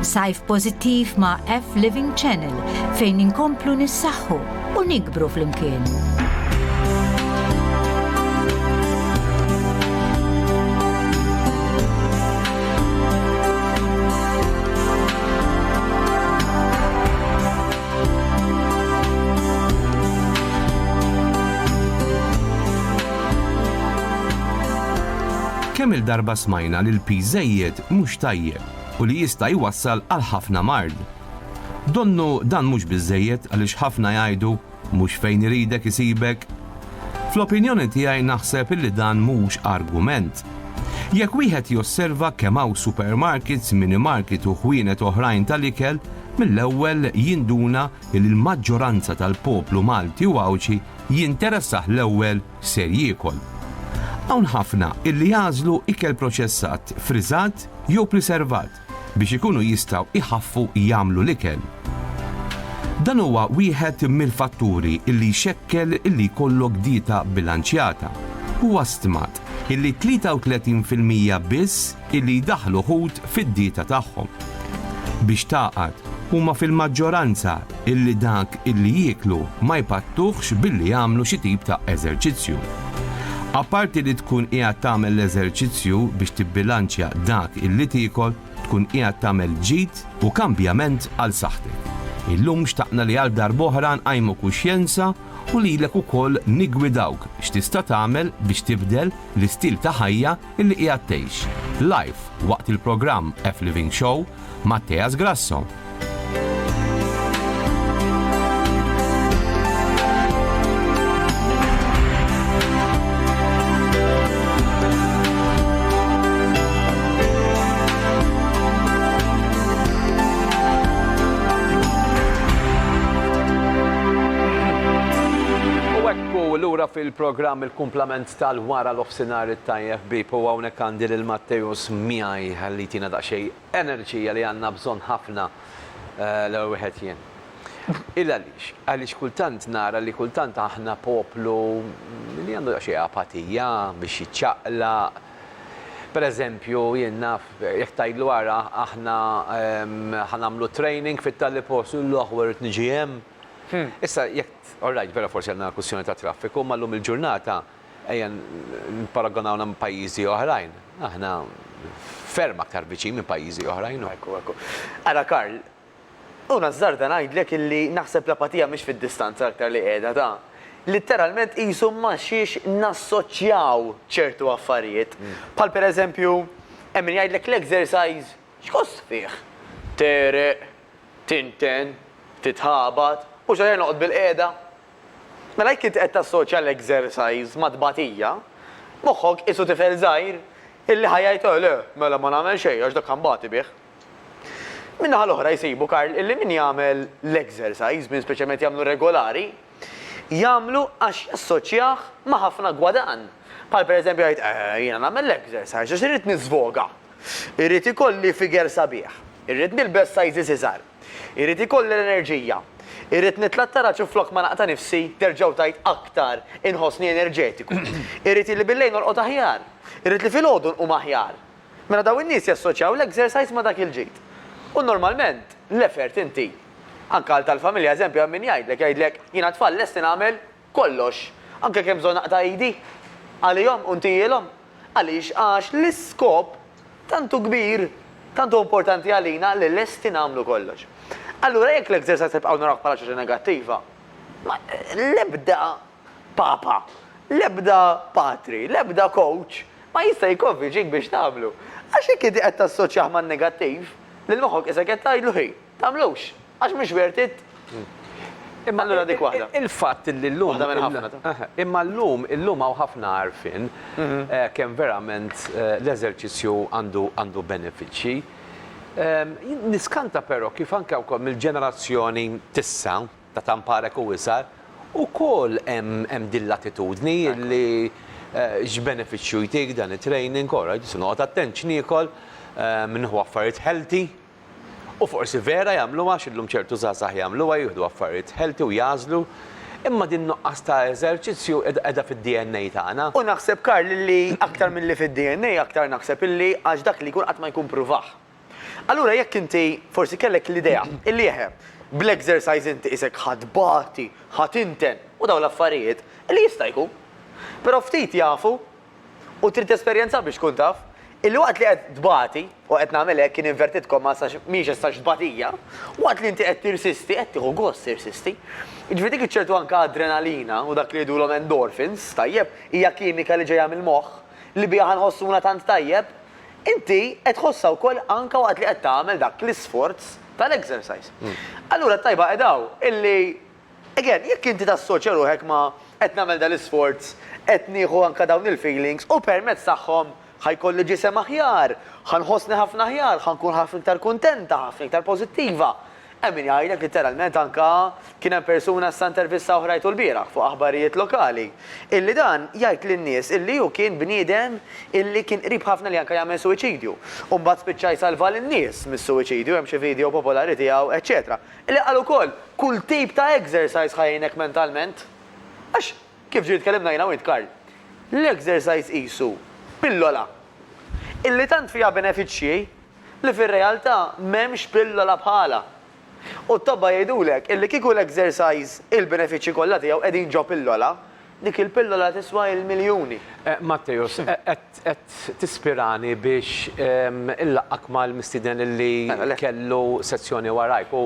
Sajf pożittiv ma' F Living Channel fejn inkomplu nissaħħu u nikbru flimkien. Kemm il-darba smajna li l-piż żejjed mhux tajjeb u li jista' jwassal għal ħafna mard. Donnu dan mhux biżżejjed għaliex ħafna jgħidu mhux fejn iridek isibek. Fl-opinjoni tiegħi naħseb illi dan mhux argument. Jekk wieħed josserva kemm hawn supermarkets, minimarket u ħwienet oħrajn tal-ikel, mill-ewwel jinduna li lill-maġġoranza tal-poplu Malti u Għawdxi jinteressah l-ewwel x'ser jiekol. Hawn ħafna illi jagħżlu ikel proċessat, friżat jew priservat biex ikunu jistgħu jħaffu jagħmlu l-ikel. Dan huwa wieħed mill-fatturi illi jxekkel illi jkollok dieta bilanċjata. Huwa stmat illi 33 fil-mija biss illi jdaħħlu ħut fid-dieta tagħhom. Biex tagħqad, huma fil-maġġoranza illi dak illi jieklu ma jpattuhx billi jagħmlu xi tip ta' eżerċizzju. Apparti li tkun qiegħed tagħmel l-eżerċizzju biex tibbilanċja dak illi tiekol, tkun qiegħed tagħmel ġid u kambjament għal saħħtek. Illum xtaqna li għal darb'oħra nqajmu kuxjenza u lilek ukoll niggwidawk x'tista' tagħmel biex tibdel l-istil ta' ħajja Illi qiegħed tgħix, live, waqt il-programm F Living Show ma' Tea Sgrasso. fil-programm il-kumplament tal-wara l-offsinar it-tajjeb ħbieb u hawnhekk għandi lil Matteus miegħi ħalli jtina daqsxejn enerġija li għandna bżonn ħafna l-ewwel wieħed jien. Il għaliex? Għaliex kultant nara li kultant aħna poplu li għandu daqsxejn apatija biex jiċċaqlaq. Per eżempju jien naf jekk tgħidlu ara aħna ħa nagħmlu training fit-Tali post, jgħidlu aħwa rrid niġi hemm. Issa, jekk, all right, vera forsi għandna kwistjoni ta' traffiku, imma llum il-ġurnata, ejja nipparagonawna ma' pajjiżi oħrajn, aħna ferm aktar viċin minn pajjiżi oħrajn. Ekku, ekku. Ara Karl, u nażżarda ngħidlek illi naħseb l-apatija mhix fid-distanza l-aktar li qiegħda, ta'. Litteralment qisu ma' xiex nassoċjaw ċertu affarijiet. Bħal pereżempju, hemm min jgħidlek l-exercise x'kost fih? Tegħreq, Tinten, titħabat, u x'aħjar noqgħod bilqiegħda? Mela jekk int qed tassoċja l-exercise mat-tbatija, moħħok qisu tifel żgħir illi ħa jgħid eh le, mela ma nagħmel xejn għax dak ħanbati bih. Min-naħa l-oħra jsibu, Karl, illi min jagħmel l-exercise, min speċjalment jagħmlu regolari, jagħmlu għax jassoċjah ma' ħafna gwadann. Bħal pereżempju jgħid eh jiena nagħmel l-exercise għax irrid niżvoga, Irrid ikolli figure sabiħ. Irrid nilbes sizes iżgħar. Irrid ikolli l-enerġija. Irrid nitla' t-taraġ u flok ma naqta' nifsi, terġgħu tgħid aktar, inħossni enerġetiku. Irrid li bil-lejl norqod aħjar. Irrid li filgħodu nqum aħjar. Mela dawn in-nies jassoċjaw l-exercise ma' dak il-ġid. U normalment l-effort inti, anke għal tal-familja eżempju hemm min jgħidlek, jgħidlek, jiena t-tfal lesti nagħmel kollox, anke kemm bżonn naqta' idi, għalihom u ntihielhom. Għaliex? Għax l-iskop tant hu kbir, tant hu importanti għalina li lesti nagħmlu kollox. Allura jekk l-ekserzajs nibqgħu narawh bħala xi ħaġa negattiva, ma l-ebda papa, l-ebda patri, l-ebda kowċ ma jista' jikkonvinċik biex tagħmlu. Għax jekk inti qed tassoċjah man-negattiv, lil moħħok isek qed tgħidlu hi, tagħmlux. Għax mhux worth it. Imma allura dik waħda. Il-fatt illi llum. Waħda minn ħafna ta'. Imma llum, illum hawn ħafna għarfien kemm verament l-eżerċizzju għandu għandu benefiċċji. Jien niskanta però kif anke wkoll mill-ġenerazzjoni t'issa, ta' Tamparek u isgħar, ukoll hemm hemm din l-attitudni illi x'benefiċċju jtik dan it-training, all right, se noqgħod attent x'niekol, nieħu affarijiet healthy. U forsi vera jagħmluha għax illum ċertu żgħażagħ jagħmluha, jieħdu affarijiet healthy u jagħżlu, imma din nuqqas ta' eżerċizzju qiegħda fid-DNA tagħna. U naħseb Karl illi aktar milli fid-DNA aktar naħseb illi għax dak li jkun qatt ma jkun pruvah. Allura jekk inti forsi kellek l-idea illi eħe, bl-exercise inti qisek ħa tbati, ħa tinten u dawn l-affarijiet, li jista' jkun. Però ftit jafu U trid tesperjenza biex tkun taf. Il-waqt li qed tbati, u qed nagħmel hekk in inverted commas għax mhijiex as such tbatija, waqt li inti qed tirsisti, qed tieħu gost tirsisti. Jiġifieri dik iċ-ċertu anke adrenalina u dak li jgħidulhom endorphins, tajjeb, hija kimika li ġejja mill-moħħ, li biha ħa nħossuna tant tajjeb, inti qed tħossha wkoll anke waqt li qed tagħmel dak l-isforz tal-exercise. Allura t-tajba qiegħda hawn, illi Again, jekk inti tassoċja ruħek ma' qed nagħmel dal-isforz, qed nieħu anke dawn il-feelings u permezz tagħhom ħa jkolli ġisem aħjar, ħa nħossni ħafna aħjar, ħa nkun ħafna iktar kuntenta, ħafna iktar pożittiva. Hemm min jgħidlek litteralment anke kien hemm persuna issa intervista oħra jgħidu lbieraħ fuq aħbarijiet lokali, illi dan jgħid lin-nies illi hu kien bniedem illi kien qrib ħafna li anke jagħmel suwiċidju u mbagħad spiċċa jsalva lin-nies mis-suwiċidju, hemm xi video popolari tiegħu, eċċetera. Li qal ukoll, Kull tip ta' exercise ħa jgħinek mentalment. Għax, kif ġieli tkellimna jiena u int Karl, l-exercise qisu pillola illi tant fiha benefiċċji li fir-realtà m'hemmx pillola bħalha. U t-tobba jgħidulek illi kieku l-exercise il-benefiċċji kollha tiegħu qegħdin ġo pillola, Dik il-pillola tiswa il-miljuni. Matteus, qed tispirani biex inlaqqgħek mal-mistieden li kellu sezzjoni warajk u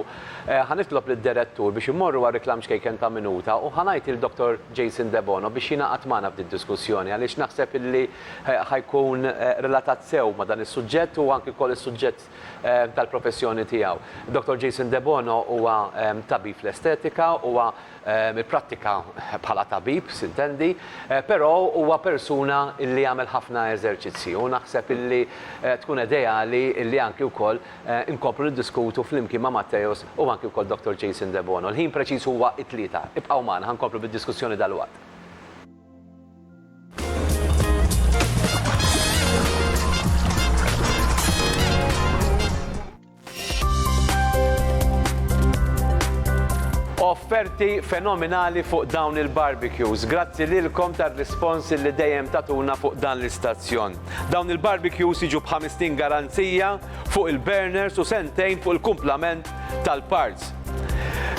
ħa nitlob lid-Direttur biex immorru għal riklam ċkejken ta' minuta u ħa ngħid lil Dottor Jason Debono biex jingħaqad magħna f'din diskussjoni għaliex naħseb illi ħa jkun relatat sew ma' dan is-suġġett u anki wkoll is-suġġett fil-kuntest tal-professjoni tiegħu. Dottor Jason Debono huwa tabib fl-estetika, huwa ipprattika bħala tabib, sintendi, però huwa persuna li jagħmel ħafna eżerċizzji u naħseb illi tkun edejali illi anki wkoll inkomplu niddiskutu flimkien ma' Matteus u anki wkoll Dottor Jason Debono. Il-ħin preċiż huwa t-tlieta. Ibqgħu magħna, ħa nkomplu bid-diskussjoni dalwaqt. offerti fenomenali fuq dawn il-barbecues. Grazzi lilkom tar-rispons li dejjem tatuna fuq dan l-istazzjon. Dawn il-barbecues jiġu b'ħamistin garanzija fuq il-burners u sentejn fuq il-kumplament tal-parts.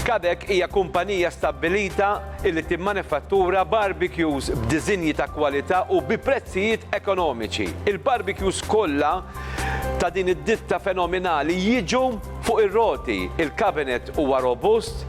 Kadek hija kumpanija stabbilita li timmanifattura barbecues b'diżinji ta' kwalità u bi prezzijiet ekonomiċi. Il-barbecues kollha ta' din id-ditta fenominali jiġu fuq ir-roti, il-cabinet huwa robust,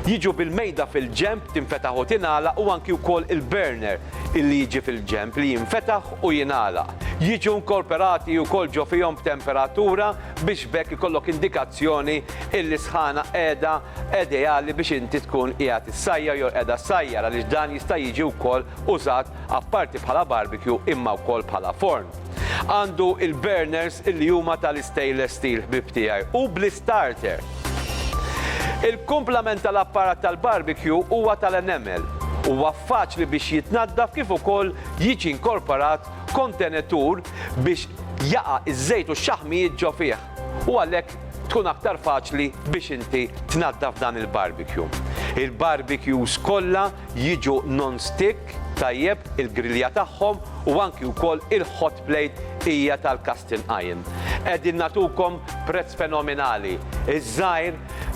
jiġu bil-mejda fil-ġenb tinfetaħ u tingħalaq u anki wkoll il-burner illi jiġi fil-ġenb li jinfetaħ u jingħalaq. Jiġu nkorperati wkoll ġo fihom b'temperatura biex b'hekk ikollok indikazzjoni illi sħana qiegħda ideali biex inti tkun qiegħed issajjar jew qiegħda ssajjar għaliex dan jista' jiġi wkoll użat apparti bħala barbecue imma wkoll bħala forn. Għandu il-burners li huma tal-istainless steel ħbieb tiegħi u bl-istarter. Il-kumplament tal-apparat tal-barbecue huwa tal-enamel. Huwa faċli biex jitnaddaf kif ukoll jiġi inkorporat kontenetur biex jaqa' ż-żejt u x-xaħmijiet ġo fih. U għalhekk tkun aktar faċli biex inti tnaddaf dan il-barbecue. Il-barbecues kollha jiġu non-stick tajjeb il-grilja tagħhom u anki wkoll il-hot plate hija tal-casting iron. Qegħdin nagħtukom prezz fenominali, iż-żgħir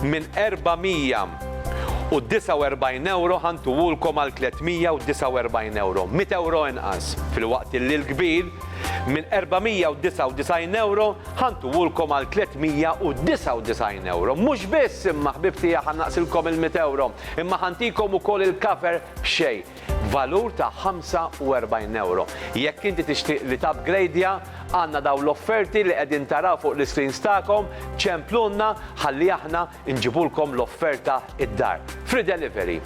minn 449 ewro ħa ntuhulkom għal 349 ewro, mitt ewro inqas, filwaqt illi l-kbir, Minn €499 ħa ntuwulkom għal €399. Mhux biss, imma ħbieb tiegħi ħa nnaqqsilkom il-€100, imma ħa ntikom ukoll il-cover b'xejn, b'valur ta' €45. Jekk inti tixtieq li tapgrejdja, għandna dawn l-offerti li qegħdin taraw fuq l-iscreens tagħkom, ċemplulna ħalli aħna nġibulkom l-offerta id-dar. Free delivery.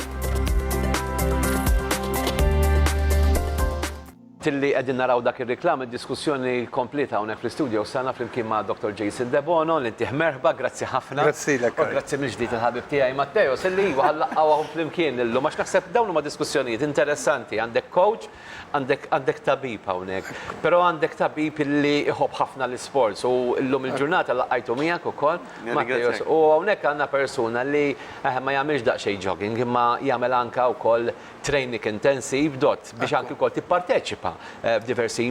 Tilli qegħdin naraw dak ir-riklam, id-diskussjoni kompliet hawnhekk fl-istudios tagħna flimkien ma' Dottor Jason Debono, li ntih merħba, grazzi ħafna. Grazzilek Kay. U grazzi mill-ġdid il-ħabib tiegħi Matteos, illi iva ħa nlaqqgħuhom flimkien illum, għax naħseb dawn huma diskussjonijiet interessanti, għandek coach, għandek għandek tabib hawnhekk, però għandek tabib illi iħobb ħafna l-isports u llum il-ġurnata laqqajtu miegħek ukoll, Matteos, u hawnhekk għandna persuna li eħe ma jagħmilx daqsxejn jogging imma jagħmel anke wkoll training intensive dot biex anki wkoll tipparteċipa f'diversi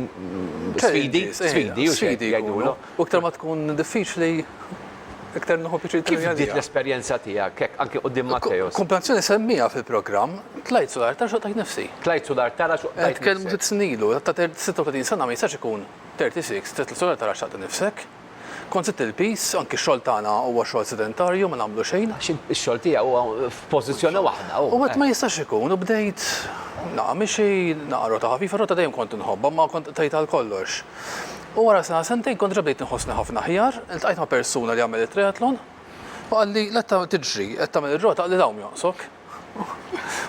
sfidi, sfidi u xejn jgħidulu. U iktar ma tkun diffiċli, iktar nieħu pjaċir. Kif bdiet l-esperjenza tiegħek hekk anki quddiem Matteo? Kumpanzjoni semmiha fil-programm, tlajt sul artar xoqtajt nifsi. Tlajt sul artar għax xoqtajt nifsi. Nitkellmu sitt snin ilu, ta' 36 sena ma jistax ikun 36, titla' sul artar għax xaqt nifsek. Kont żidt il-piż, anki x-xogħol tagħna huwa xogħol sedentarju, ma nagħmlu xejn. Għax ix-xogħol tiegħi huwa f'pożizzjoni waħda. U għedt ma jistax ikun u bdejt naqa' mixi, naqa' rota ħafif, ir-rota dejjem kont inħobbha imma kont qtajt għal kollox. U wara sena sentejn kont diġà bdejt inħossni ħafna aħjar, iltqajt ma' persuna li jagħmel it-triathlon u qalli l-qed tiġri, qed tagħmel ir-rota, qalli l-għawm jonqsok.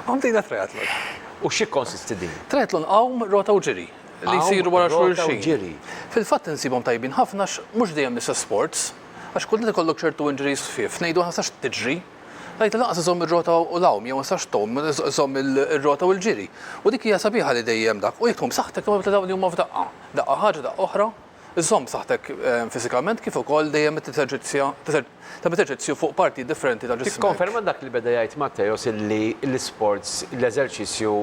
U bdejna triathlon. U x'ikkonsisti din? Triathlon għawm, rota u ġiri. li jsiru wara xulxin. Fil-fatt insibhom tajbin ħafna għax mhux dejjem l-istess sports, għax kultant ikollok ċertu injuries ħfief, ngħidu aħna ma tistax tiġri, ngħidlu lanqas iżżomm ir-rota u l-għawm jew ma tistax tgħum, iżżomm ir-rota u l-ġiri. U dik hija sabiħa li dejjem dak, u jekk tgħum b'saħħtek imma tibda dawn li huma f'daqqa. Daqqa ħaġa, daqqa oħra. Żżomm b'saħħtek fiżikament kif ukoll dejjem teżerċizzja tagħmel eżerċizzju fuq partijiet differenti ta' ġismek. Tikkonferma dak li beda jgħid Matteos illi l-isports, l-eżerċizzju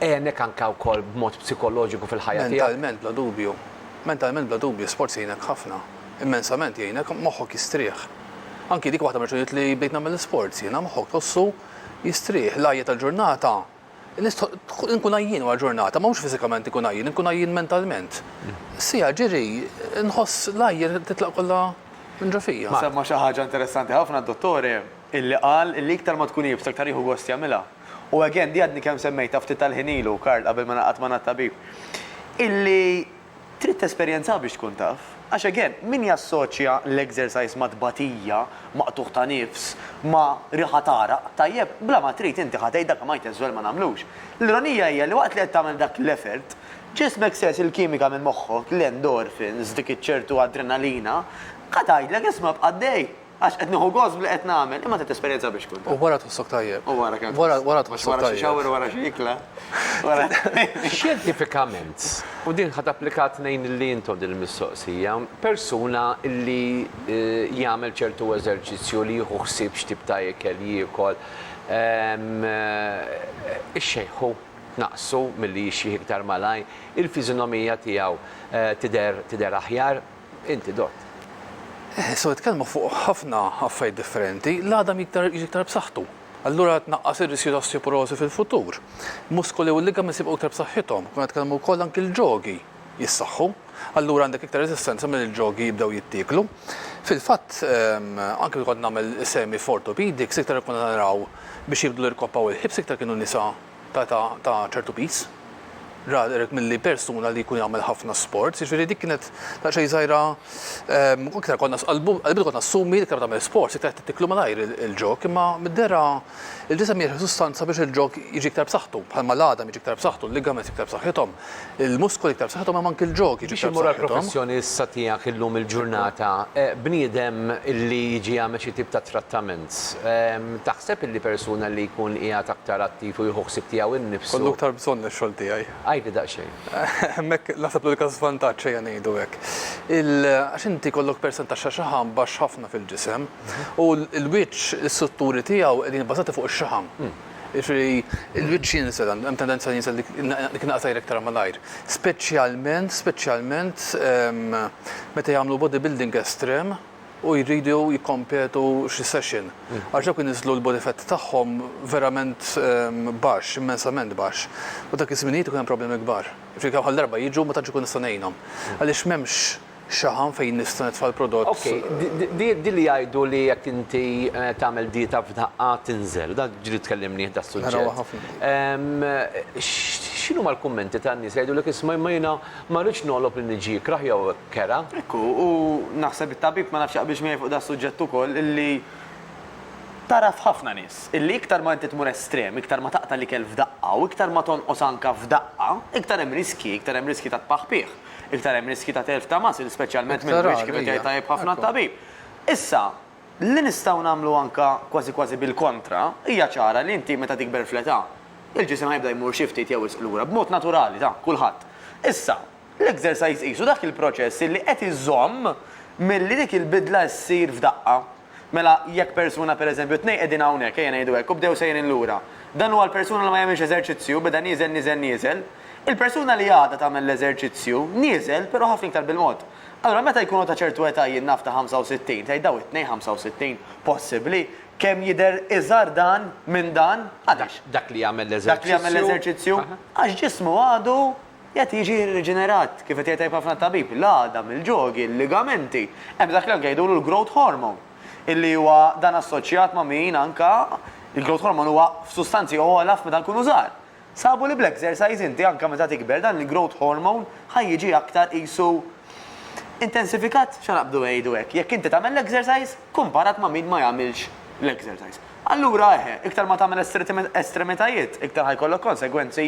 għenek anke wkoll b'mod psikoloġiku fil-ħajja tiegħek? Mentalment bla dubju. Mentalment bla dubju, sports jgħinek ħafna. Immensament jgħinek, moħħok jistrieħ. Anki dik waħda mir-raġunijiet li bdejt nagħmel l-isports jiena, moħħok tħossu jistrieħ. L-għajja tal-ġurnata Nistħoqq inkun għajjien wara ġurnata, ma mhux fiżikament inkun għajjien, inkun għajjien mentalment. Siegħa ġiri, nħoss l-ajr titlaq kollha minn ġo fija. Semma xi ħaġa interessanti ħafna d-dottore illi qal illi iktar ma tkun iebsa iktar jieħu gost jagħmilha. U again, di għadni kemm semmejtha ftit tal-ħin ilu, Karl, qabel ma naqgħad magħna t-tabib, illi Trid tesperjenzaha biex tkun taf. Għax again, min jassoċja l-exercise ma' tbatija, ma' qtugħ ta' nifs, ma' riħa t'għaraq, tajjeb, bla ma trid inti ħa tgħid dak li ma jtess żwell ma nagħmlux. L-ironija hija li waqt li qed tagħmel dak l-effort, ġismek sejħs il-kimika minn moħħok, l-endorphins, dik iċ-ċertu adrenalina, ħa tgħidlek isma' bqa' għaddej. Għax qed nieħu gost b'li qed nagħmel, imma trid esperjenza biex tkun taf. U wara tħossok tajjeb. U wara kemm. Wara wara tħossok tajjeb. Wara xi xawr, wara xi ikla. Xjentifikament, u din ħa tapplika tnejn li intom din il-mistoqsija, persuna li jagħmel ċertu eżerċizzju li jieħu ħsieb x'tip ta' ikel jiekol, ix-xejħu tnaqqsu milli jixjieħ iktar malajr, il-fiżinomija tiegħu tidher tidher aħjar, Inti dott. So jitkellmu fuq ħafna affarijiet differenti, l-għadam jiktar jiġi iktar b'saħħtu. Allura tnaqqas ir-riskju ta' osteoporożi fil-futur. Muskoli u ligaments jibqgħu iktar b'saħħithom. Konna nitkellmu wkoll anki l-ġogi jissaħħu. Allura għandek iktar reżistenza milli l-ġogi jibdew jittieklu. Fil-fatt, anki meta kont nagħmel is-semi f'orthopedics iktar konna naraw biex jibdlu l-irkoppa u l-hips iktar kienu nisa. ta' età ta' ċertu piż. Rather milli persuna li jkun jagħmel ħafna sports, jiġifieri dik kienet daqsxejn żgħira iktar konna qalbna kont nassumi li iktar ma tagħmel sports iktar qed tiklu malajr il-ġog imma mid-dehra il-ġisem jirħi sustanza biex il-ġog jiġi iktar b'saħħtu bħalma l-għadam jiġi iktar b'saħħtu, l-ligaments iktar b'saħħithom. Il-muskoli iktar b'saħħithom hemm anki l-ġogi biex imur għall-professjoni issa tiegħek illum il-ġurnata, bniedem li jiġi jagħmel xi tip ta' trattament, taħseb illi persuna li jkun qiegħed aktar attiv u jieħu ħsieb tiegħu nnifsu. Kollu iktar bżonn ix-xogħol tiegħi. Għidli daqsxejn. Hemmhekk naħseb l-unika żvantaġġ ejja ngħidu hekk. Għax inti jkollok persentaġġ ta' xaħam baxx ħafna fil-ġisem u l-wiċċ, l-istrutturi tiegħu qegħdin ibbażati fuq ix-xaħam. Jiġifieri l-wiċċ jinżel, hemm tendenza li jinżel dik in-naqa' t'ajr iktar malajr. Speċjalment, speċjalment meta jagħmlu bodybuilding estrem u jridu jikkompetu xi session. Għax dawk iniżżlu l-body fat tagħhom verament baxx, immensament baxx. U dak iż-żminijiet ikun hemm problemi kbar. Jiġifieri kemm-ħa darba jiġu ma tantx ikun nista' ngħinhom. Għaliex m'hemmx. Xaħam fejn nista' nitfa' l-prodott. Ok, din li jgħidu li jekk inti tagħmel dieta f'daqqa tinżel, dan ġili tkellimnih das-suġġett. Narawha ħafna. X'inhuma l-kummenti tan-nies li jgħidulek isma' imma jiena ma rridx nogħlob lil niġi ikrah jew kera. Ekku, u naħseb it-tabib ma nafx jaqbilx miegħi fuq das-suġġett ukoll illi tara f'ħafna nies illi iktar ma inti tmur estrem, iktar ma taqta' l-ikel f'daqqa u iktar ma tonqos anke f'daqqa, iktar hemm riskji, iktar hemm riskji ta' tpaħpiħ. Iktar hemm riskji ta' telf ta' muscle, speċjalment mill-wiċċ, kif qed jgħid tajjeb ħafna t-tabib. Issa, li nistgħu nagħmlu anke kważi kważi bil-kontra, hija ċara li inti meta tikber fl-età, il-ġisem ħa jibda jmur xi ftit jew wisq lura, b'mod naturali ta' kulħadd. Issa, l-exercise qisu dak il-proċess li qed iżomm milli dik il-bidla ssir f'daqqa. Mela, jekk persuna, per eżempju, tnejn qegħdin hawnhekk, ejja ngħidu hekk, u bdew sejrin lura. Dan huwa l-persuna li ma jagħmilx eżerċizzju, beda nieżel, nieżel, nieżel. Il-persuna li għadha tagħmel l-eżerċizzju, nieżel, però ħafna iktar bil-mod. Allura meta jkunu ta' ċertu età jien naf ta' 65, tgħid dawn it-tnejn 65, possibbli? Kemm jidher iżgħar dan minn dan? Għaliex? Dak li jagħmel l-eżerċizzju. Dak li jagħmel l-eżerċizzju. Għax ġismu għadu. Qed jiġi irriġenerat, kif qed jgħid tajjeb ħafna t-tabib, l-għadam, il-ġogi, l-ligamenti. Hemm dak li anke jgħidulu l-growth hormone, illi huwa dan assoċjat ma' min anke, il-growth hormone huwa f'sustanzi ogħla f'meta nkunu żgħar. Sabu li bl-exercise inti anke meta tikber dan il-growth hormone ħa jiġi aktar qisu intensifikat, x'ħa naqbdu ngħidu hekk, jekk inti tagħmel l-exercise, kumparat ma' min ma jagħmilx l-exercise. Allura, eħe, iktar ma tagħmel estremitajiet, iktar ħa jkollok konsegwenzi.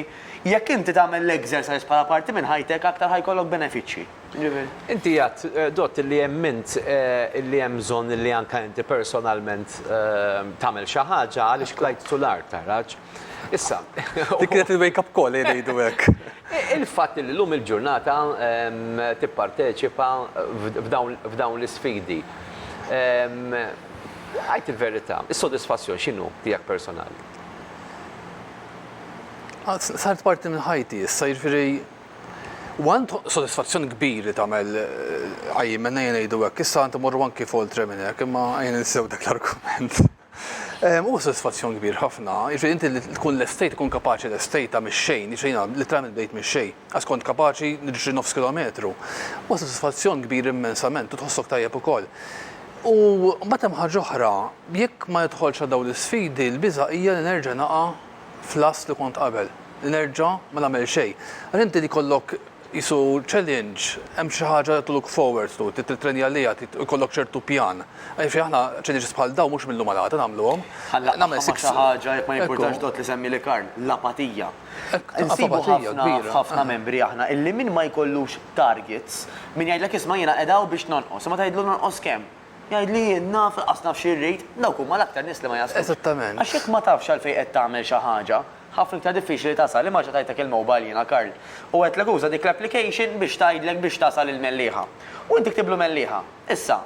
Jekk inti tagħmel l-exercise bħala parti minn ħajtek, aktar ħa jkollok benefiċċji. Jiġifieri. Inti għedt, Dott, illi hemm int illi hemm bżonn illi anke inti personalment tagħmel xi ħaġa għaliex tlajt sular, taraġ. Issa, u. Dik kienet il-wake up call, ejja ngħidu hekk. Il-fatt li llum il-ġurnata tipparteċipa f'dawn l-isfidi, għid il-verità, is-sodisfazzjon x'inhu tiegħek personali? Saret parti minn ħajti issa, jiġifieri one sodisfazzjon kbir li tagħmel qajjimna, ejja ngħidu hekk. Issa tant imorru anki f'oltre minn hekk, imma ejja ninsew dak l-argument. Huwa sodisfazzjon kbir ħafna, jiġifieri inti li tkun lestejt, tkun kapaċi lestejtha mix-xejn, jiġifieri jiena litteralment bdejt mix-xejn, għax kont kapaċi niġri nofs kilometru. Huwa sodisfazzjon kbir immensament u tħossok tajjeb ukoll. U mbagħad hemm ħaġa oħra, jekk ma nidħolx għal dawn l-isfidi, l-biża' hija li nerġa' naqa' fl-għażż li kont qabel, li nerġa' ma nagħmel xejn. Għax inti li jkollok Qisu challenge, hemm xi ħaġa li to-look forward to, trid tittrenja għaliha, trid ikollok ċertu pjan. Jiġifieri aħna challenges bħal dawn mhux mil-lum għal-għada nagħmluhom. Ħa nlaqqagħha ma' xi ħaġa, jekk ma jimpurtax dot li semmi li Karl, l-apatija. Insibu ħafna f'ħafna membri aħna illi min ma jkollux targets, min jgħidlek isma' jiena qiegħda hawn biex nonqos, imma tgħidlu nonqos kemm? Jgħidli jien naf, lanqas naf xi rrid, dawk huma l-aktar nies li ma jaslux. Għax jekk ma tafx għalfejn qed tagħmel xi ħaġa, Ħafna iktar diffiċli tasal, imma reġa' tajtek il-mobile jiena Karl. U għedtlek uża dik l-application biex tgħidlek biex tasal il-Mellieħa. U inti ktiblu Mellieħa. Issa,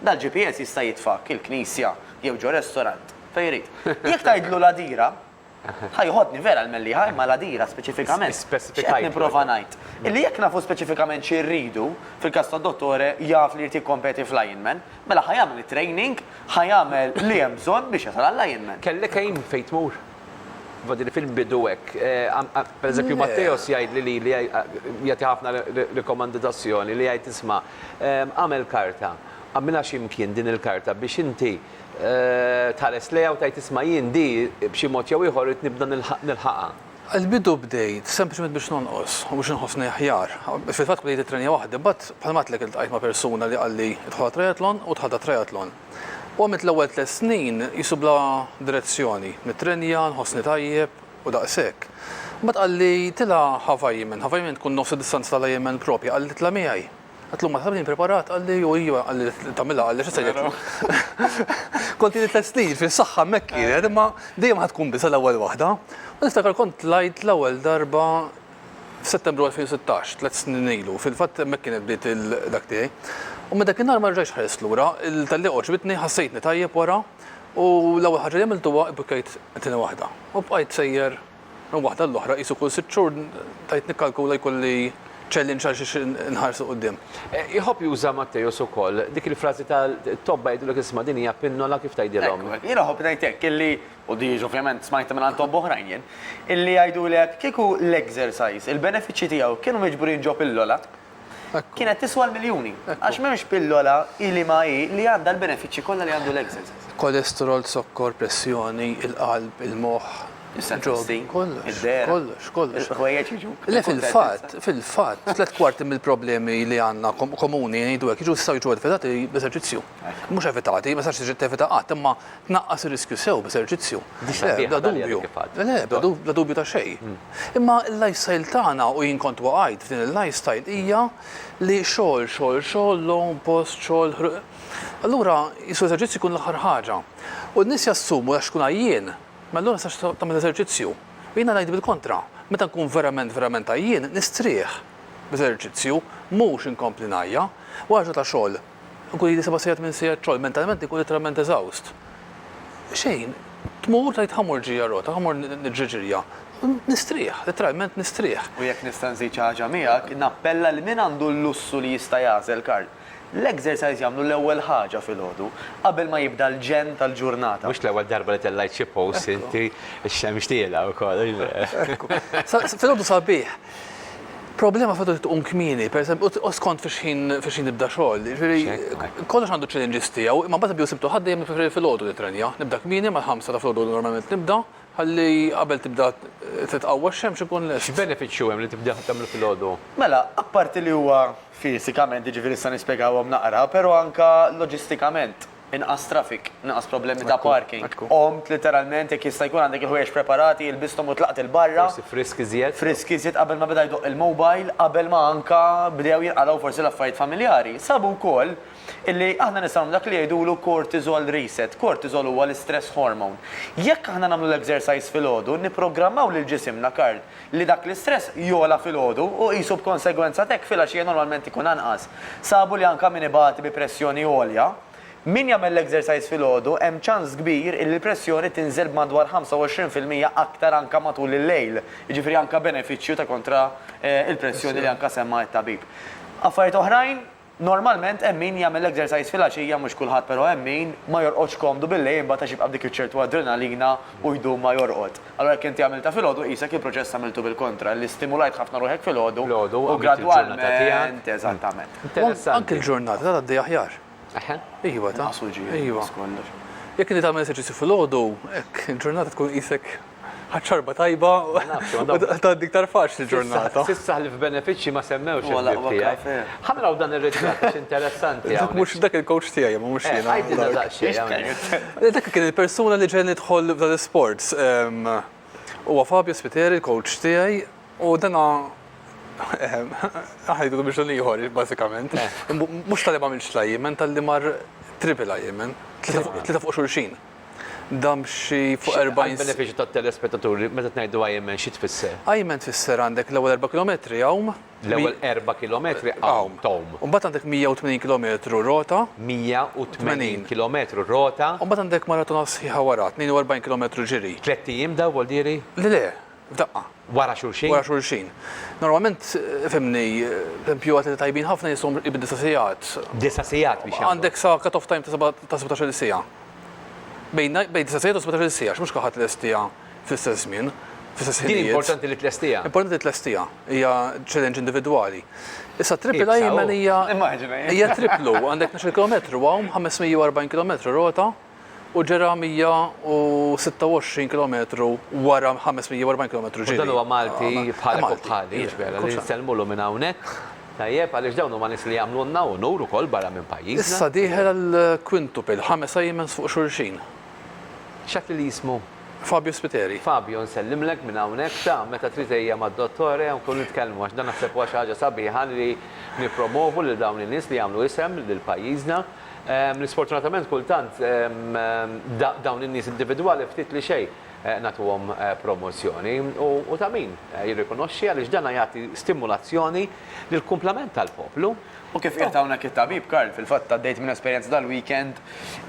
dal-GPS jista' jitfgħek il-knisja jew ġo restaurant, fejn jrid. Jekk tgħidlu l-Għadira, ħa joħodni vera l-Mellieħa, imma l-Għadira speċifikament. X'qed nipprova ngħid? Illi jekk nafu speċifikament xi rridu, fil-każ tad-dottore jaf li jrid jikkompeti f'lineman, mela ħa jagħmel it-training, ħa jagħmel li hemm bżonn biex jasal għal-lineman. Kellek aim fejn tmur? Infatti fil bidu hekk. Per eżempju Matteos jgħid li lili jagħti ħafna rikomandi ta' azzjoni li jgħid isma' agħmel karta, agħmilha xi mkien din il-karta biex inti tħares lejha u tgħid isma' jien di b'xi mod jew ieħor irid nibda nilħaqha. Għal bidu bdejt sempliċement biex nonqos u biex inħossni aħjar. Fil-fatt bdejt it-trenja waħdi, imbagħad bħalma għedtlek iltqajt ma' persuna li qalli idħol għat-triathlon u dħalt għat-triathlon. U għamilt l-ewwel tliet snin qisu bla direzzjoni, nittrenja, nħossni tajjeb u daqshekk. Imbagħad qalli, Tilgħa Havaiaman, Havaiaman tkun nofs id-distanza tal-Ironman propja, qalli tla' miegħi. Għedtlu ma tafx li impreparat, qalli u ejja qalli li tagħmilha qalli x'se jgħidlu. Kont ili tliet snin fi saħħa hemmhekk kienet imma dejjem ħa tkun biża' l-ewwel waħda. U niftakar kont tlajt l-ewwel darba f'Settembru 2016, tliet snin ilu, fil-fatt hemmhekk kienet bdiet il-dak tiegħi. U minn dakinhar ma rġajtx ħarist lura, il-tellieqa għoġbitni, ħassejtni tajjeb wara, u l-ewwel ħaġa li għamilt huwa ibbukkejt it-tieni waħda. U bqajt sejjer minn waħda għall-oħra, qisu kull sitt xhur bdejt nikkalkula jkolli challenge għal xiex inħares 'l quddiem. Iħobb juża Matteus ukoll dik il-frażi ta' tobba jgħidulek isma' din hija pinnola kif tgħidilhom. Ekku, jiena nħobb ngħid hekk, illi u diġ ovvjament smajtha minn għand tobba oħrajn jien, illi jgħidulek kieku l-exercise, il-benefiċċji tiegħu kienu miġburin ġo pillola, kienet tiswa l-miljuni. Għax m'hemmx pillola, hi liema hi, li għandha l-benefiċċji kollha li għandu l-exercise. Kolesterol, zokkor, pressjoni, il-qalb, il-moħħ, il-ġobn, kollox, kollox, kollox. Il-ħwejjeġ jiġu. Le fil-fatt, fil-fatt, tliet kwarti mill-problemi li għandna komuni ngħidu hekk jiġu jistgħu jiġu evitati b'eżerċizzju. Mhux evitati, ma tistax tiġi tevita qatt, imma tnaqqas ir-riskju sew b'eżerċizzju. Bla dubju. Le, bla dubju ta' xejn. Imma l-lifestyle tagħna, u jien kont waqajt f'din il-lifestyle, hija li xogħol, xogħol, xogħol, logħob, post, xogħol, allura qisu l-eżerċizzju jkun l-aħħar ħaġa. U n-nies jassumu għax tkun għajjien, mela allura ma tistax tagħmel eżerċizzju. U jiena ngħid bil-kontra, meta nkun verament, verament għajjien, nistrieħ b'eżerċizzju, mhux inkompli ngħajja. Wara ġurnata ta' xogħol, Inkun ili seba' sigħat minn sigħat xogħol, mentalment inkun litteralment eżawst. Xejn, tmur tgħid ħa mur ġirja rota, ħa mur niġri ġirja. Nistrieħ, litteralment nistrieħ. U jekk nista' nżid xi ħaġa miegħek, nappella lil min għandu l-lussu li jista' jagħżel kards, l-exercise jagħmlu l-ewwel ħaġa filgħodu, qabel ma jibda l-ġenn tal-ġurnata. Mhux l-ewwel darba li tellgħajt xi post inti, ix-xemx tielgħa wkoll. Filgħodu sabiħ. Problema fil-fatt li tqum kmieni, pereżempju, u skont fi xħin fi xħin nibda xogħol. Jiġifieri kollox għandu ċ-challenges tiegħu, imma mbagħad bdew sibtu ħadd dejjem nippreferi filgħodu nittrenja. Nibda kmieni mal-ħamsa ta' filgħodu normalment nibda, ħalli qabel tibda titqawwa x-xemx inkun lest. X'benefiċċju hemm li tibda tagħmlu filgħodu? Mela, apparti li huwa fisikament, jiġifieri nista' nispjegahom naqra, però anke loġistikament. Inqas traffic, inqas problemi ta' parking. Qomt litteralment, jekk jista' jkun għandek il-ħwejjeġ preparati, ilbisthom u tlaqt 'il barra. Forsi frisk iżjed. Frisk iżjed qabel ma beda jdoqq il-mobile, qabel ma anke bdew jinqalgħu forsi l-affarijiet familjari. Sabu wkoll illi aħna nistgħu nagħmlu dak li jgħidulu cortisol reset. Cortisol huwa l-istress hormone. Jekk aħna nagħmlu l-exercise filgħodu, nipprogrammaw lil ġisimna, Karl, li dak l-istress jogħla filgħodu u qisu b'konsegwenza t'hekk filgħaxija normalment ikun anqas. Sabu li anke min ibati bi pressjoni għolja, min jagħmel l-exercise filgħodu hemm ċans kbir illi l-pressjoni tinżel b'madwar 25 fil-mija aktar anke matul il-lejl, jiġifieri anke benefiċċju ta' kontra l-pressjoni li anke semma t-tabib. Affarijiet oħrajn? Normalment hemm min jagħmel exercise filgħaxija mhux kulħadd però hemm min ma jorqodx komdu billejl imbagħad għax jibqa' b'dik iċ-ċertu adrenalina u jdum ma jorqod. Allura jekk inti għamiltha filgħodu qisek il-proċess għamiltu bil-kontra li stimulajt ħafna ruħek filgħodu u gradwalment eżattament. Anki l-ġurnata ta' tgħaddi aħjar. Eħe. Iva ta'. Inqas uġigħ inqas kollox. Jekk inti tagħmel eżerċizzju filgħodu hekk il-ġurnata tkun qisek Ħadt xorba tajba u tgħaddi iktar faċli l-ġurnata. S'issa ħlief benefiċċji ma semmewx il-ħbieb tiegħi. Ħa naraw dan ir-ritratt għax interessanti. Dak mhux, dak il-coach tiegħi imma mhux jiena. Għidilna daqsxejn. Dak kien il-persuna li ġegħelni nidħol f'dan l-isport. Huwa Fabio Spiteri, l-coach tiegħi, u dana aħna ngħidulu biex dan ieħor bażikament. Mhux talli m'għamilx l-IMN, talli mar triple IMN, tlieta fuq xulxin. Dam xi fuq 40. Għall-benefiċċju tat-telespettaturi, meta tngħidu Ironman xi tfisser? Ironman tfisser għandek l-ewwel erba' kilometri għawm. L-ewwel erba' kilometri għawm, tgħum. U mbagħad għandek 180 kilometru rota. 180 kilometru rota. U mbagħad għandek maratona sħiħa wara, 42 kilometru ġiri. Tlett ijiem dawn, Waldieri? Le le, f'daqqa. Wara xulxin? Wara xulxin. Normalment, fhimni, pempju għat li tajbin ħafna jiswhom qrib id-disa' sigħat. Disa' sigħat biex jagħmlu. Għandek sa cut off time ta' seba' ta' sebatax-il siegħa. Bejn bejn disa' sigħat u sebatax-il siegħa, għax mhux kulħadd ilestiha fl-istess żmien, fl-istess ħinijiet. Din importanti li tlestiha. Importanti li tlestiha. Hija challenge individwali. Issa triple Ironman hija. Immaġina. Hija triplu, għandek tnax-il kilometru hawn, 540 kilometru rota. U ġera 126 kilometru wara 540 kilometru ġiri. U dan huwa Malti bħalek u bħali, jiġifieri li nsellmulu minn hawnhekk, tajjeb, għaliex dawn huma nies li jagħmlulna unur ukoll barra minn pajjiżna. Issa dieħel għall-quintuple, ħames Aimens fuq xulxin. X'għad lili jismu? Fabio Spiteri. Fabio, nsellimlek minn hawnhekk, ta, meta trid ejja mad-Dottore u nkunu nitkellmu għax dan naħseb huwa xi ħaġa sabiħa li nippromovu lil dawn in-nies li jagħmlu isem lil pajjiżna. L-isfortunatament kultant dawn in-nies individwali ftit li xejn nagħtuhom promozzjoni. U ta' min jirrikonoxxi għaliex dan jagħti stimulazzjoni lill-kumplament tal-poplu. U kif qiegħed hawnhekk it-tabib Karl, fil-fatt għaddejt minn esperjenza dal-weekend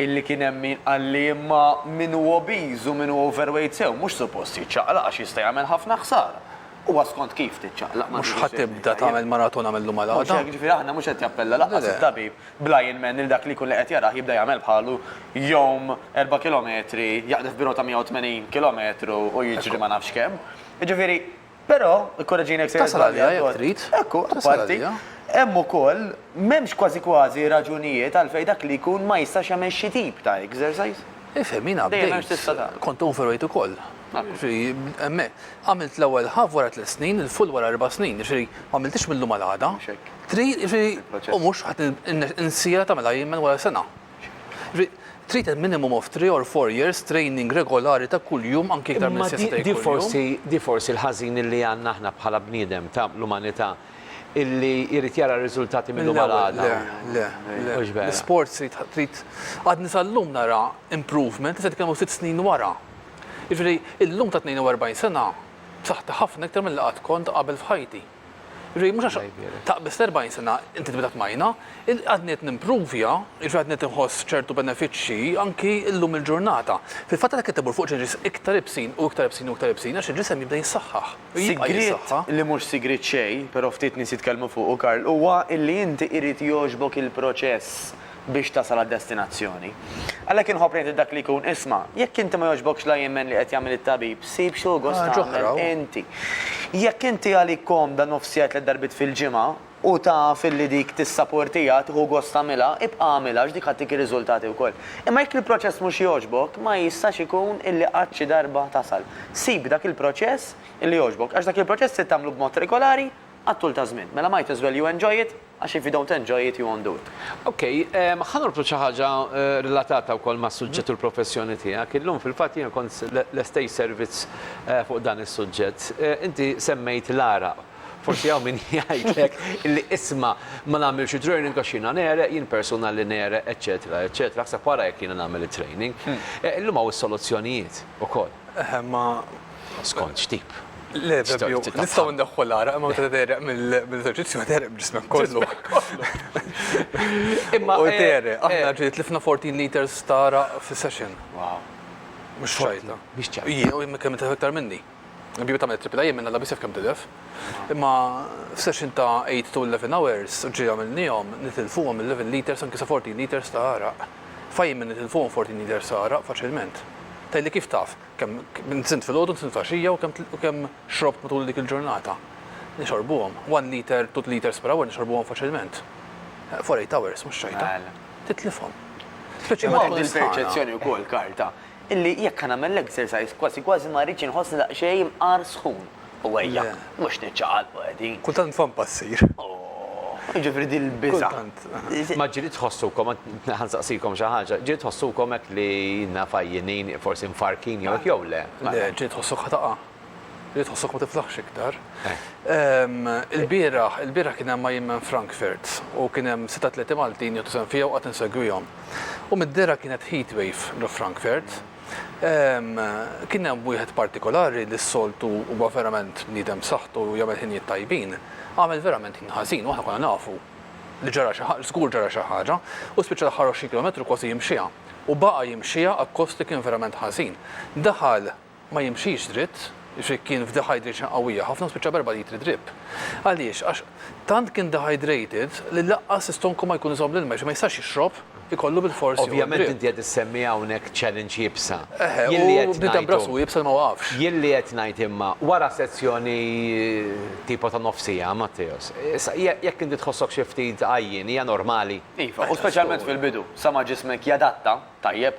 illi kien hemm min qalli imma min hu obiż u min hu overweight sew mhux suppost jiċċaqlaq għax jista' jagħmel ħafna ħsara. Huwa skont kif tiċċaqlaq. Mhux ħa tibda tagħmel maratona mill-lum għal għada. Mhux hekk, ġifieri aħna mhux qed jappella lanqas it-tabib bl-għajn m'hemm lil dak li jkun li qed jarah jibda jagħmel bħalu, jgħum erba' kilometri, jaqdef bi rota 180 kilometru u jiġri ma nafx kemm. Jiġifieri, però, ikkoreġini jekk se Tasal għaliha jekk trid. Ekku, apparti, hemm ukoll, m'hemmx kważi kważi raġunijiet għalfejn dak li jkun ma jistax jagħmel xi tip ta' exercise. Ifhem, jiena bdejt, kont overweight ukoll, Għamilt l-ewwel half wara tliet snin, il-full wara erba' snin, jiġifieri ma għamilthiex mil-lum għal għada. Trid, jiġifieri, u mhux qed insirha tagħmilha jien minn wara sena. Jiġifieri, trid il-minimum of three or four years training regolari ta' kuljum anki iktar minn sitt snin kuljum. Imma di forsi l-ħażin illi għandna aħna bħala bniedem ta' l-umanità illi jrid jara r-riżultati mil-lum għal għada. Le, le, le. Mhux vera. L-isports trid, għadni sal-lum nara improvement, issa qed nitkellmu sitt snin wara. Jiġifieri, illum ta' 42 sena, b'saħħti ħafna iktar milli qatt kont qabel f'ħajti. Jiġifieri, mhux għax taqbiżt 40 sena, inti tibda tmajna. Għadni qed nimpruvja, jiġifieri għadni qed inħoss ċertu benefiċċji anki llum il-ġurnata. Fil-fatt għalhekk qed imur fuq ġeġis iktar ibsin u iktar ibsin u iktar ibsin għax il-ġisem jibda jissaħħaħ. Sigriet li mhux sigriet xejn, però ftit nies jitkellmu fuqu, Karl, huwa illi inti irid jogħġbok il-proċess. biex tasal għad-destinazzjoni. Għalhekk inħobb ngħid lil dak li jkun, isma', jekk inti ma jogħġbokx la jemmen li qed jagħmel it-tabib, sib xi hu gost tagħmel inti. Jekk inti għalik komda nofs siegħa tliet darbiet fil-ġimgħa, u taf illi dik tissaportiha, tieħu gost tagħmilha, ibqa' agħmilha għax dik ħattik ir-riżultati wkoll. Imma jekk il-proċess mhux jogħġbok, ma jistax ikun illi qatt xi darba tasal. Sib dak il-proċess illi jogħġbok, għax dak il-proċess trid tagħmlu b'mod regolari, għat-tul ta' żmien. Mela might as well you enjoy it, għax if you don't enjoy it you won't do it. Ok, ħa norbtu xi ħaġa relatata wkoll mas-suġġett u l-professjoni tiegħek. Illum fil-fatt jiena kont lest għid servizz fuq dan is-suġġett. Inti semmejt l-għaraq. Forsi hawn min jgħidlek li isma' ma nagħmilx it-training għax jiena negħreq, jien persuna li negħreq, eċċetera, eċċetera, aħseb wara jekk jiena nagħmel it-training. Illum hawn is-soluzzjonijiet ukoll. Eħe, imma Skont x'tip? Le, Fabio, nistgħu ndaħħu l-għara, imma meta tereq mill-eżerċizzju tereq b'ġismek kollu. Imma u tereq, eh, aħna eh. ġiet tlifna 14 liters ta' raq fis-session. Wow. Mhux xajta. Biex ċajta. Jien u kemm inti iktar minni. Biju tagħmel tripla jien minna labisef kemm tilef. Imma session ta' 8 to 11 hours ġi għamilnihom nitilfuhom 11 liters anke sa 14 liters ta' għaraq. Fajjim minn nitilfuhom 14 liters ta' għaraq faċilment. Tajli kif taf? Kemm nsimt filgħodu, nsimt f'għaxija u kemm xrobt matul dik il-ġurnata. Nixorbuhom. One liter, two liters per hour nixorbuhom faċilment. For eight hours, mhux xejta. Titlifhom. Imma hemm il-perċezzjoni wkoll, Karl, ta' illi jekk ħa nagħmel l-exercise kważi kważi ma rridx inħossni daqsxejn imqar sħun. U ejjak, mhux niċċaqalqu qegħdin. Kultant nfhom passier. Jiġifieri din il-biża'. Kultant. Ma ġieli tħossukom, ħa nsaqsikom xi ħaġa, ġieli tħossukom hekk li naf għajjinin, forsi mfarrkin jew hekk jew le? Le, ġieli tħossok ħa taqa'. Ġieli tħossok ma tiflaħx iktar. Ilbieraħ, ilbieraħ kien hemm ma' jien minn Frankfurt u kien hemm sitt atleti Maltin jieħdu sehem fija u qatt insegwihom. U mid-dehra kienet heatwave ġo Frankfurt. Kien hemm wieħed partikolari li s-soltu huwa verament bniedem b'saħħtu u jagħmel ħinijiet tajbin, għamel verament ħin ħażin u aħna konna nafu li ġara xi ħaġa, żgur ġara xi ħaġa, u spiċċa l-aħħar għoxrin kilometru kważi jimxiha u baqa' jimxiha akkost li kien verament ħażin. Daħal ma jimxix dritt. Jekk kien f'dehydration qawwija ħafna spiċċa b'erba' litri drip. Għaliex? Għax tant kien dehydrated li laqqas l-istonku ma jkun iżomm l-ilma, jiġifieri ma jistax jixrob, ikollu bilfors jieħu d-drip. Ovvjament inti qed issemmi hawnhekk challenge iebsa. Eħe, u bniedem b'rasu iebsa li ma waqafx. Jien li qed ngħid imma, wara sezzjoni tipo ta' nofs siegħa, Matteos, issa jekk inti tħossok xi ftit għajjien hija normali. Iva, u speċjalment fil-bidu, sa ma ġismek jadatta, tajjeb,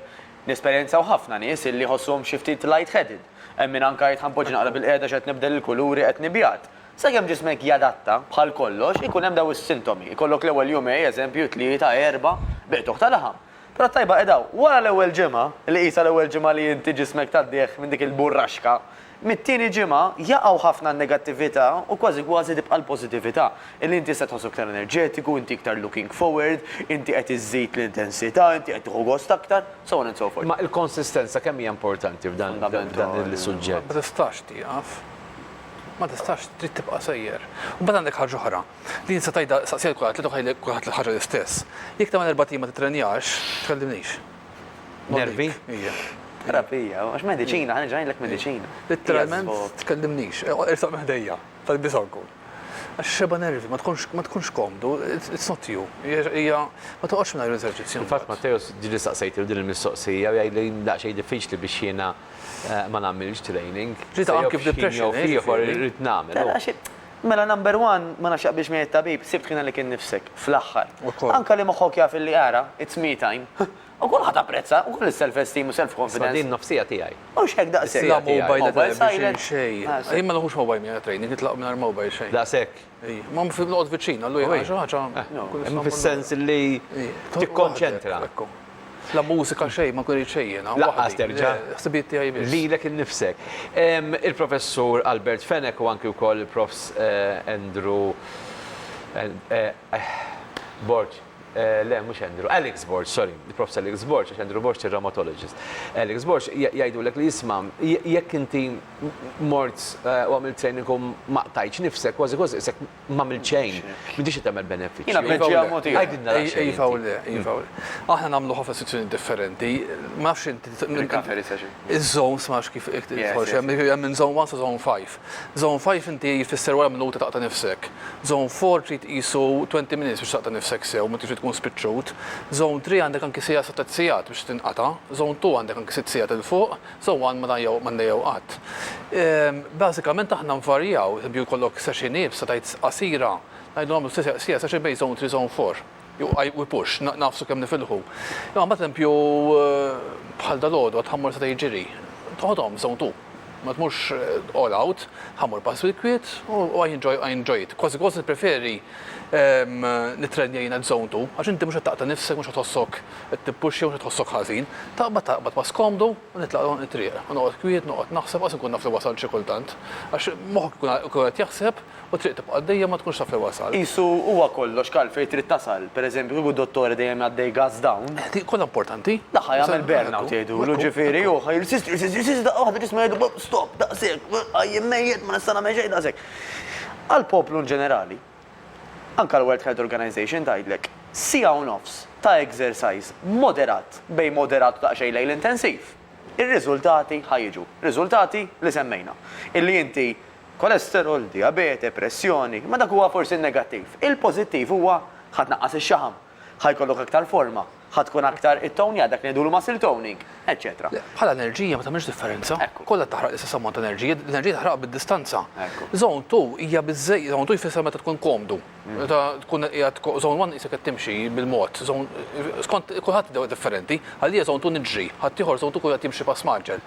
Nesperjenzaw ħafna nies illi jħossuhom xi ftit light-headed. Hemm min anke jgħid ħanpoġġi naqra bilqiegħda x'qed nibdel il-kuluri, qed nibjad. Sakemm ġismek jadatta, bħal kollox, ikun hemm dawn is-sintomi. Ikollok l-ewwel jumej, eżempju, tlieta, erbgħa, biqtuħ ta' laħam. Però t-tajba qiegħda hawn, wara l-ewwel ġimgħa, li qisha l-ewwel ġimgħa li inti ġismek tgħaddih minn dik il-burraxka, Mit-tieni ġimgħa, jaqgħu ħafna n-negattività u kważi kważi tibqa' l-pożittività, illi inti tista' tħossok iktar enerġetiku, inti iktar looking forward, inti qed iżżid l-intensità, inti qed tieħu gost aktar, so on and so forth. Imma l-konsistenza kemm hija importanti f'dan il-suġġett? Ma tistax tieqaf. Ma tistax, trid tibqa' sejjer. U mbagħad għandek ħaġa oħra, li nista' tgħidha, saqsi lil kulħadd, tgħidlu jgħidlek kulħadd l-ħaġa l-istess. Jekk tagħmel erbat ijiem ma tittrenjax, tkellimnix. Nervi? Terapija, għax mediċina, għan ġajlek mediċina. Literalment, tkellimnix, irsaq meħdejja, tal-bisanku. Għax xeba nervi, ma tkunx komdu, it's not you. Ija, ma toqgħodx minn l-eżerċizzju. Fatt Matteus ġili saqsejt il din il-mistoqsija u jgħidli daqsxejn diffiċli biex jiena eh, ma nagħmilx training. Ġita anki f'depression. Ieħor irid nagħmel. Mela number one, ma nafx jaqbilx miegħi t-tabib, sibt kien għalik innifsek, fl-aħħar. Anke li moħħok jaf illi ara, it's me time, u kulħadd apprezza, ukoll is-self esteem u self confidence. Isma' din nofsija tiegħi. Mhux hekk daqshekk. La mobile at all, xejn xejn. Jien ma neħux mobile miegħi għat-training, nitlaq mingħajr mobile xejn. Daqshekk? Ejja. Ma noqgħod viċin, allu jien għax xi ħaġa. Hemm fis-sens li tikkonċentra. La mużika xejn, ma nkun irrid xejn jiena. Laqqas terġa'. Ħsibijiet tiegħi biss. Lilek innifsek. Il-Professur Albert Fenech u anki wkoll il-Profs. Andrew Borg, le mhux Andrew, Alex Borg, sorry, il-Profs. Alex Borg, għax Andrew Borg ir-Rheumatologist. Alex Borg jgħidulek li isma' jekk inti mort u għamilt training u ma qtajtx nifsek, kważi kważi qisek M'għamilt xejn. M'intix qed tagħmel benefiċċju. Jiena tneġġiha mod ieħor. Għidilna daqsxejn inti. Iva u le, iva u le. Aħna nagħmlu ħafna istituzzjonijiet differenti. Ma nafx inti. Recovery session. Iż-zones ma nafx kif tħoss. Hemm minn zone one sa zone five. Zone five inti jfisser wara minuta taqta' nifsek. Zone four trid qisu twenty minutes biex taqta' nifsek sew, meta trid tkun spiċċut. Zone three għandek anki siegħa sa tliet sigħat biex tinqata'. Zone two għandek anki sitt sigħat 'il fuq, Sewwa ma jew m'għandha jew qatt. Bażikament aħna nvarjaw, pereżempju jkollok session iebsa tgħid qasira, ngħidu nagħmlu session bejn zone three u zone four u push, nagħfsu kemm nifilħu. Imma mbagħad pereżempju bħal dalgħodu għad ħammur setgħa jiġri, toħodhom zone two. Ma tmurx all out, ħammur pass bil-kwiet u I enjoy, I enjoy it. Kważi kważi nippreferi nittrenja jiena zone two għax inti mhux qed taqta' nifsek, mhux qed tħossok Qed tippuxja mhux qed tħossok ħażin. Taqbad taqbad ma' skomdu u nitlaq nagħlaq it-triq. U noqgħod kwiet, noqgħod naħseb, qas inkun naf li wasalt xi kultant. Għax moħħok ikun ikun qed jaħseb u t-triq tibqa' għaddejja ma tkunx taf li wasalt. Qisu huwa kollox kal fejn trid tasal. Per eżempju kieku d-dottore dejjem jgħaddej gas down. Eh, dik kollha importanti. Daqqa jagħmel burn out jgħidulu, ġifieri hu ħa jirsisti, jirsisti, jirsisti daqqa waħda ġismu jgħidlu bop, stop, daqshekk, għajjien mejjet, ma nista' nagħmel xejn, daqshekk. Għall-poplu in ġenerali, Anke l-World Health Organization tgħidlek, siegħa u nofs ta' exercise moderat, bejn moderat u daqsxejn lejl intensiv, ir-riżultati ħa jiġu. Riżultati li semmejna. Illi inti kolesterol, dijabete, pressjoni, imma dak huwa forsi n-negattiv. Il-pożittiv huwa ħa tnaqqas ix-xaħam. Ħa jkollok aktar forma. Ħa tkun aktar ittownjat, dak li ngħidulu muscle toning, eċċetera. Le, bħala enerġija ma tagħmilx differenza. Ekku. Kollha taħraq l-istess ammont ta' enerġija, l-enerġija taħraqha bid-distanza. Ekku. Zone two hija biżżej, zone two jfisser meta tkun komdu. Meta tkun qiegħed ko, zone one qisek qed timxi bil-mod, zone, skont kulħadd id-dewwa differenti. Għalija zone two niġri, ħaddieħor zone two jkun qed jimxi pass mgħaġġel.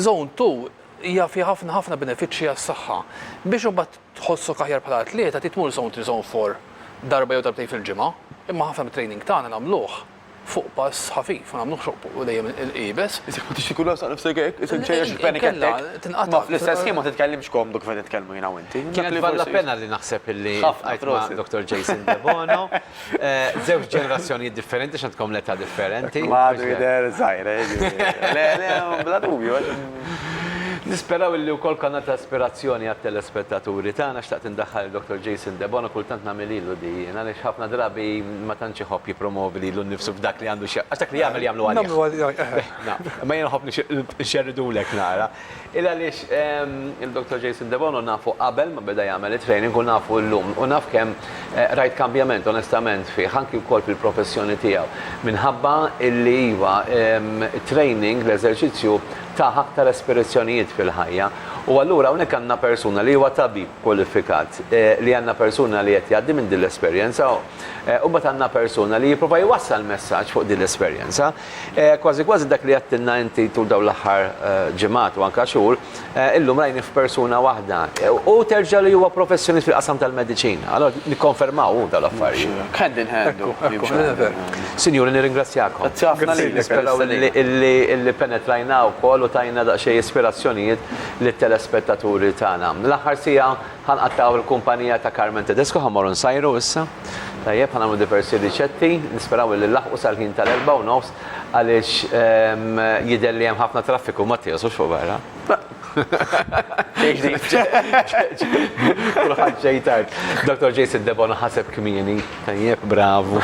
Zone two hija fiha ħafna ħafna benefiċċji għas-saħħa. Biex imbagħad Tħossok aħjar bħala atleta trid tmur zone three, zone four darba jew darbtejn fil-ġimgħa, imma ħafna mit-training tagħna nagħmluh fuq pass ħafif, ma nagħmluhx fuq dejjem iebes. Isek ma tridx ikun ħassaq nifsek hekk, isek ċejjex il-panic attack. Inkella tinqata'. Imma fl-istess ħin ma titkellimx komdu kif qed nitkellmu jiena u inti. Kienet bella pena li naħseb illi ltqajt ma' Doktor Jason Debono. Żewġ ġenerazzjonijiet differenti x'għandkom l-età differenti. Ma għadu jidher żgħir, eh, jiġifieri. Le, le, bla dubju, għax. Nisperaw illi wkoll kanal ta' ispirazzjoni għat-telespettaturi tagħna. Xtaqt indaħħal lil-Dottor Jason Debono, kultant nagħmel ilu di jien, għaliex ħafna drabi ma tantx iħobb jippromovi lilu nnifsu f'dak li għandu x'jaq. Għax dak li jagħmel jagħmlu għalih. Nagħmlu għalih, eh. Naf. Imma jien nħobb nxerridulek nara. Illa għaliex il-Dottor Jason Debono nafu qabel ma beda jagħmel it-training u nafu llum u naf kemm rajt kambjament onestament fih anki wkoll fil-professjoni tiegħu minħabba illi iva it-training l-eżerċizzju tah aktar espirizzjonijiet fil-ħajja u allura hawnhekk għandna persuna li huwa tabib kwalifikat li għandna persuna li qed jgħaddi minn din l-esperjenza u mbagħad għandna persuna li jipprova jwassal messaġġ fuq din l-esperjenza. Kważi kważi dak li għedtilna inti tul dawn l-aħħar ġimgħat u anke xhur, illum rajnih f'persuna waħda. Hu terġa' li huwa professjonist fil-qasam tal-mediċina. Allura nikkonfermaw hu dawn l-affarijiet. Mhux hekk. Hand in hand hu. Ekku, ekku, dan hu veru. Sinjuri, nirringrazzjakom. Grazzi ħafna lilek. Nisperaw li li penetrajna wkoll u tajna daqsxejn ispirazzjonijiet lit-telespettaturi tagħna. L-aħħar siegħa Ħa nqattgħu l-kumpanija ta' Carmen Tedesco, ħa mmorru nsajru issa. Tajjeb, ħa nagħmlu diversi riċetti, nisperaw illi nlaħħqu sal-ħin tal-erbgħa u nofs għaliex jidher li hemm ħafna traffiku, Mattios, mhux fuq barra? Le. Xejn ġdid. Kulħadd ġej tard. Dottor Jason Debono ħaseb kmieni. Tajjeb, bravu.